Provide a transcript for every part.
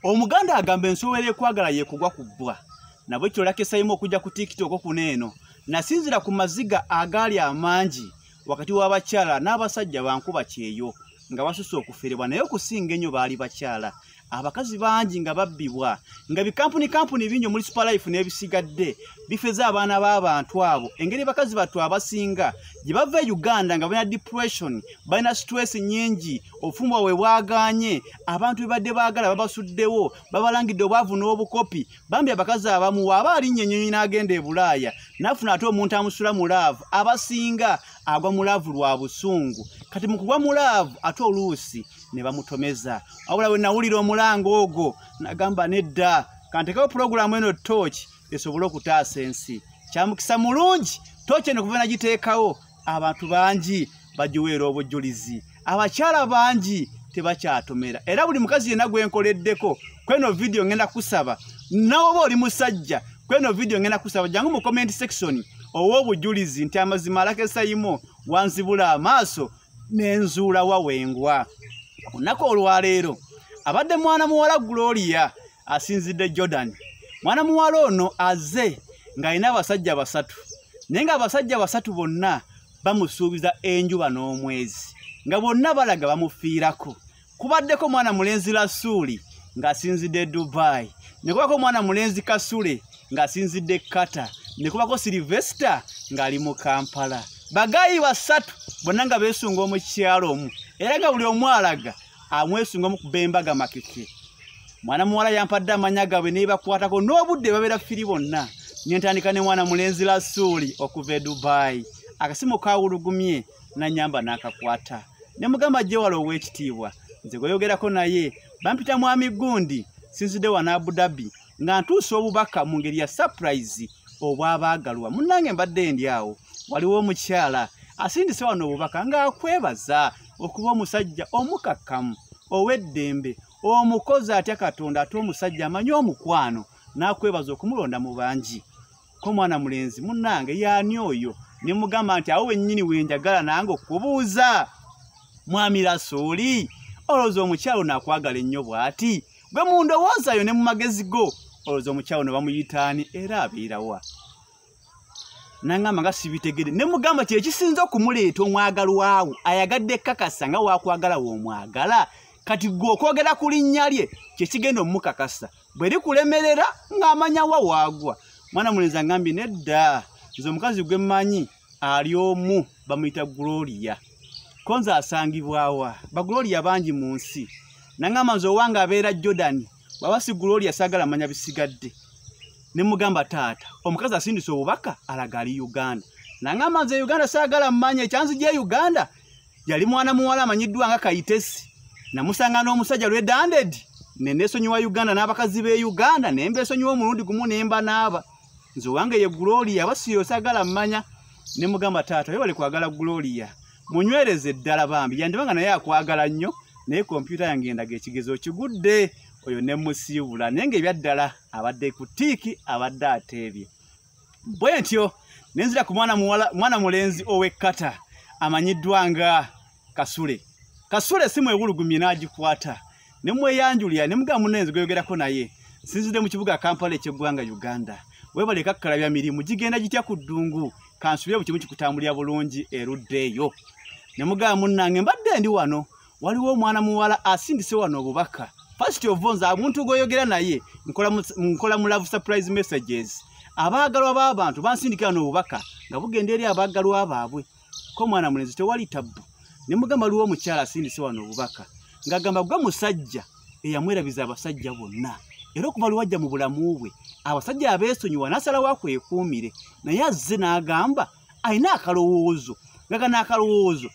omuganda agamba ensowera ekwagala yekugwa ku bbwa nabwe kyolakesaimu okujja ku tiktok okuno eno nasinzira ku maziga agaali amangi wakati w'abakyala n'abasajja bankuba kyeyo nga basusa okuferebwa naye okusinga ennyo baali bakyala abakazi bangi nga babbibwa nga bikampuni kampuni bingi omuli superlife n'ebisigadde bifeza abaana b'abantu abo engeri bakazi battu abasinga gye bava e uganda nga balina depression balina stress nyingi obufumbo bwe bwaganye abantu bebadde baagala babasuddewo babalangidde obwavu n'obukopi bambi abakazi abamu waaba alinnya ennyonyi n'agenda e bulaaya nafuna ate omuntu amusula mu laavu abasinga agwa mu laavu lwa busungu kati mu kugwa mu laavu ate oluusi ne bamutomeza wabula we nawulira omulanga ogwo nagamba nedda kantekewo pulogulaamu eno tooki esobole okutaasa ensi kyamukisa mulungi tooki eno kuva nagiteekawo abantu bangi bagiweera obujjulizi abakyala bangi tebakyatomera era buli mukazi yenna gwe nkoleddeko kweno vidiyo ngenda kusaba nawe oba oli musajja kweno vidiyo ngenda kusaba jangu mu comment section ow'obujulizi nti amazima alakesayimo wanzibula amaaso nenzuula wawengwa olunaku olwaleero abadde mwana muwala gloria asinzidde jordan mwana muwala ono aze ng'alina abasajja basatu naye ng'abasajja basatu bonna bamusuubiza enjuba n'omwezi nga bonna balaga bamufiirako kubaddeko omwana mulenzi lasuuli ng'asinzidde dubai ne kubako omwana mulenzi kasule ng'asinzidde kata ne kubako silivesita ng'ali mu kampala bagayi basatu bonna nga beesunga omukyalo omu era nga buli omu alaga amwesunga mu kuba embaga makeke mwana muwala yampadde amanya gaabwe nebakwatako n'obudde babeera firi bonna nentandika ne mwana mulenzi lasuuli okuva e dubayi akasimu kawulugumye nanyamba n'akakwata ne mugamba gyewala ow'ekitiibwa nze gweyogerako naye bampita mwami gundi sinzidde wa naabu dabi nga ntuusa obubaka mu ngeri ya surprise obwabaagalwa munnange mbadde ndi awo waliwo omukyala asindise wano obubaka ng'akwebaza okuba omusajja omukakkamu ow'eddembe omukozi atya katonda ate omusajja amanyi omukwano n'akwebaza okumulonda mu bangi ko mwana mulenzi munange yani oyo ne mugamba nti awo wennyini wenjagala nange okubuuza mwami rasuuli olowooza omukyalo nakwagala ennyo bw'ati gwe mu ndowoozayo ne mu magezi go olowooza omukyalo ne bamuyitaani era abeerawa nangamba nga sibitegede ne mugamba kye kisinza okumuleeta omwagalwawo ayagadde ekkakasa nga wakwagala woomwagala kati gwe okwogera ku linnya lye kye kigenda omumukakasa bwe likulemerera ng'amanya wa waagwa mwana mulenzi angambye nedda nze omukazi gwe mmanyi ali omu bamuyita gloria ko nze asangibwawa bagloria bangi mu nsi nangamba nze owange abeera jordan baba si gloria saagala manya bisigadde ne mugamba taata omukazi asindisa obubaka alaga ali uganda nangamba nze uganda saagala manya ekyanzi gye uganda yali mwana muwala amanyiddwa nga kayitesi namusanga n'omusajja lwedanded ne neesonyiwa uganda n'abakazi b'e uganda ne mbeesonyiwa omulundi gumu ne mba naaba nze owange ye gloria aba siyoosagala mmanya ne mugamba taata yebale kwagala gloria munywereze eddala bambi yandiba nga naye akwagala nnyo naye kompyuta yange endaga ekigezo kigudde oyo ne musiibula naye nga ebyaddala abadde ku tiiki abadde ateebye bwe ntyo ne nzira ku mwana muwala mwana mulenzi ow'ekkata amanyiddwa nga kasule kasule si mwewulugumye n'agikwata ne mweyanjulira ne mugamba munenzi gweyogerako naye sinzidde mu kibuga kampala eky'eggwanga uganda webale kakkalabya mirimu gigenda gitya ku ddungu kansubire buli kimu kikutambulira bulungi eruddeeyo ne mugamba munnange mbadde ndi wano waliwo omwana muwala asindise wano obubaka first of all nze omuntu gwoyogera naye nkola mu love surprise messages abaagalwa b'abantu bansindikira n'obubaka nga bugenda eri abaagalwa baabwe ko mwana mulenzi tewali tabbu ne mugamba waliwo omukyala asindise wano obubaka ng'agamba gwe musajja eyamwerabiza abasajja bonna era okuva lwewajja mu bulamu bwe abasajja abeesonyiwa n'asalawo akwekuumire naye azze n'agamba alina akalowoozo nga gana akalowoozo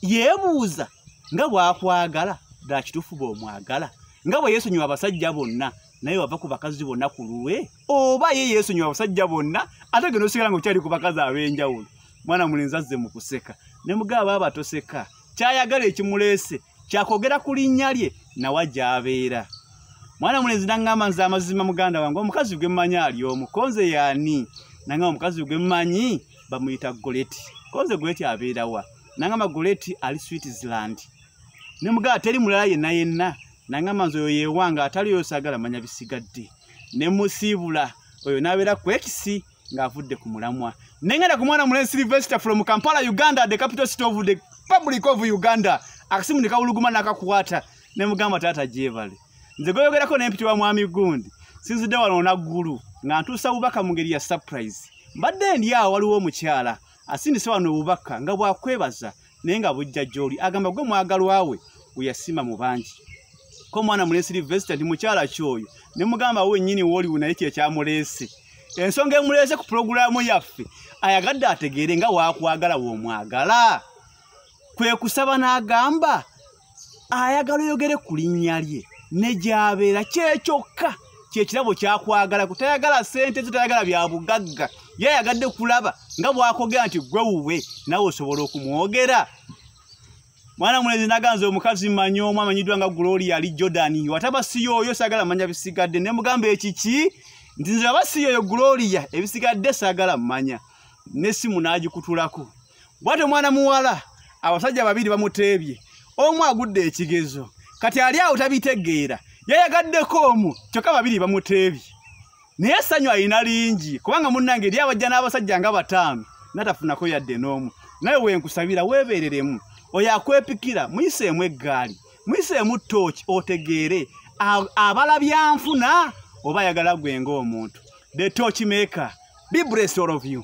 yeebuuza nga bwakwagala ddala kituufu bwomwagala nga bwe yeesonyiwa abasajja bonna naye wava ku bakazi bonna ku lulwe oba ye yeesonyiwa abasajja bonna ate genda osigala nga okyali ku bakazi ab'enjawulo mwana mulenzi azze mu kuseka ne mugaba aba toseka kyayagala ekimuleese kyakwogera ku linnya lye nawa gy'abeera mwana mulenzi nangamba nze amazima muganda wange omukazi gwe mmanyi ali omu konze yaani nangamba omukazi gwe mmanyi bamuyita goleti konze goleti abeerawa nangamba goleti ali switzerland ne muganda teri mulala yenna yenna nangamba nze oyo yewanga atali oyo sagala manya bisigadde ne musiibula oyo n'abeera ku ekisi ng'avudde ku mulamwa nengenda ku mwana mulenzi silvester from kampala uganda the capital city of the public of uganda akasimu ne kawuluguma n'akakwata ne mugamba taata gyebale nze gweyogerako n'empiti wa mwami gundi sinzidde wano naggulu nga ntuusa bubaka mu ngeri ya surprise mbadde ndi awo waliwo omukyala asindise wano obubaka nga bwakwebaza naye nga bujja gyoli agamba gwe mwagalwa we weyasima mu bangi ko omwana mulesi livesita nti mukyala kyoyo ne mugamba we nyini woliwo naye kye kyamulesi ensonga emulese ku pulogulaamu yaffe ayagadde ategeere nga wakwagala womwagala kwe kusaba n'agamba ayagala oyogere ku linnya lye ne gy'abeera kyekyokka kyekirabo kyakwagala kutayagala sente zo tayagala bya bugagga ye ayagadde kulaba nga bwakogera nti gwe wuwe nawe osobola okumwogera mwana mulezi naganza omukazi manyi omu amanyiddwa nga gloria ali jordan wataba siyo oyo sagala manya bisigadde ne mugamba ekiki nti nze aba siyo oyo gloria ebisigadde sagala manya nesimu n'agikutulako bwati omwana muwala abasajja babiri bamuteebye omu agudde ekigezo kati ali awo tabitegeera yayagaddeko omu kyokka babiri bamuteebye naye essanyu alina lingi kubanga munnange eri abajja n'abasajja nga bataano natafunako yadde n'omu naye wenkusabira weebeereremu oyo akwepikira muyiseemu eggaali muyiseemu tooki otegeere abala byanfuna oba ayagala gwe ng'omuntu the tooki maker be blessed all of you